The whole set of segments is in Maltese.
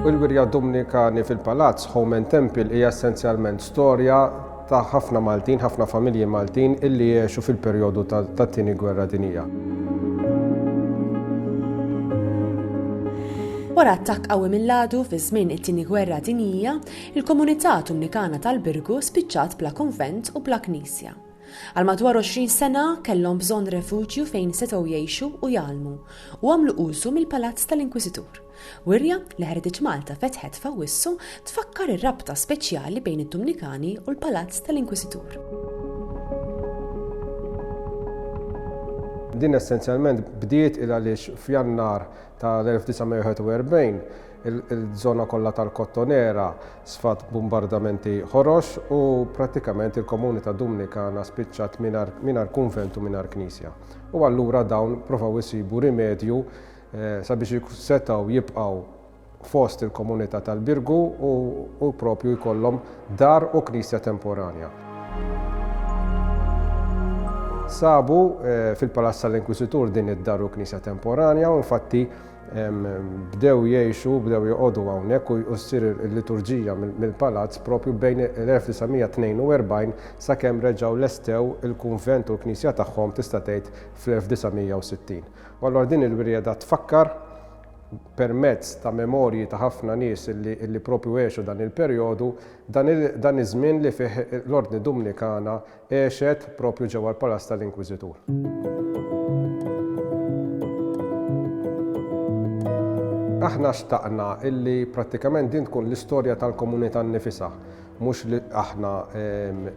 U l-wirja Dominikani fil-Palazz Home and Temple hija essenzjalment storja ta' ħafna Maltin, ħafna familji Maltin illi jiexu fil-perjodu tat-tieni gwerra dinija. Wara attakk qawwi mill-għadu fi żmien it-tieni gwerra dinija, Il-komunità Tumnikana tal-Birgu spiċċat bla konvent u bla knisja. Għal madwar 20 sena kellhom bżonn refuġju fejn setgħu jgħixu u jgħallmu u għamlu użu mill-Palazz tal-Inkwisitur. Wirja li Heritage Malta fetħet f'Awwissu tfakkar ir-rabta speċjali bejn it-Tumnikani u l-Palazz tal-Inkwisitur. Din essenzjalment bdiet il għaliex f'Jannar tal-1941 Il-żona kollha tal-Kottonera sfat b'bumbardamenti ħorox u prattikament il-komunità Dumnikana spiċċat mingħajr kunvent u mingħajr knisja. U allura dawn provaw isibu rimedju sabiex setgħu jibqgħu fost il-komunità tal-Birgu u propju jkollhom dar u knisja temporanja. Sabu fil-Palazz tal-Inkwisitur din id-dar u knisja temporanja u infatti bdew jgħixu u bdew joqogħdu hawnhekk u ssir il-liturġija mill-palazz propju bejn l-1942 sakemm reġgħu lestew il-kunvent u l-knisja tagħhom tista' tgħid fl-1960. U allura din il-wirjeda tfakkar permezz ta' memorji ta' ħafna nies li propju għexu dan il-perjodu dan iż-żmien li fih l-Ordni Dumnikana Għexet proprju ġewwa l-Palazz tal-Inkwiżitur. Aħna xtaqna illi prattikament din tkun l-istorja tal-komunità nnifisha, mhux li aħna,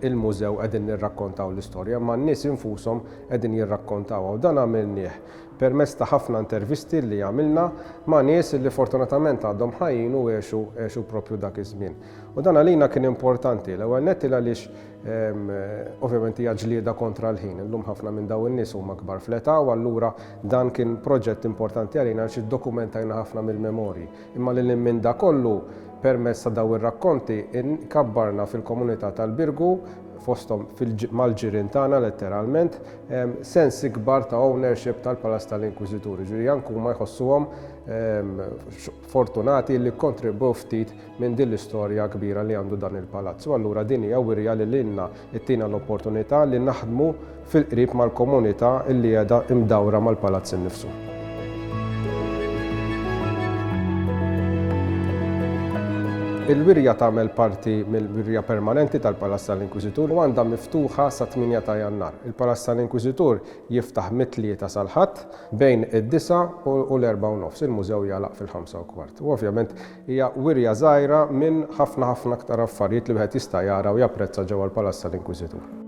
il-mużew, qegħdin nirrakkontaw l-istorja, imma n-nies infushom qegħdin jirrakkontawha u dan għamilnieh permezz ta' ħafna intervisti li għamilna ma' nies li fortunatament għadhom ħajjin u għexu proprju dak iż-żmien. U dan għalina kien importanti, l-ewwel nett il-għaliex Ovvjament hija ġlieda kontra l-ħin. Illum ħafna minn dawn in-nies huma kbar fl-età u allura dan kien proġett importanti għalina għax iddokumentajna ħafna mill-memorji. Imma lil hinn minn dak kollu, permezz ta' dawn ir-rakkonti kabbarna fil-komunità tal-Birgu, fosthom mal-ġirien tagħna letteralment, sens ikbar ta' ownership tal-Palazz tal-Inkwiżitur. Jiġifieri anke huma jħossuhom fortunati li kkontribwew ftit minn din l-istorja kbira li għandu dan il-palazz u allura din hija wirja li lilna ttina l-opportunità li naħdmu fil-qrib mal-komunità li qiegħda mdawra mal-palazz innifsu. Il-wirja tagħmel parti mill-wirja permanenti tal-Palazz tal-Inkwiżitur u għandha miftuħa sa 8 ta' Jannar. Il-Palazz tal-Inkwiżitur jiftaħ mit-tlieta sal-Ħadd bejn id-disa u l-erba' u nofs. Il-mużew jagħlaq fil-ħamsa u kwart. U ovvjament Hija wirja żgħira minn ħafna ħafna aktar affarijiet li wieħed jista' jara u japprezza ġewwa l-Palazz tal-Inkwiżitur.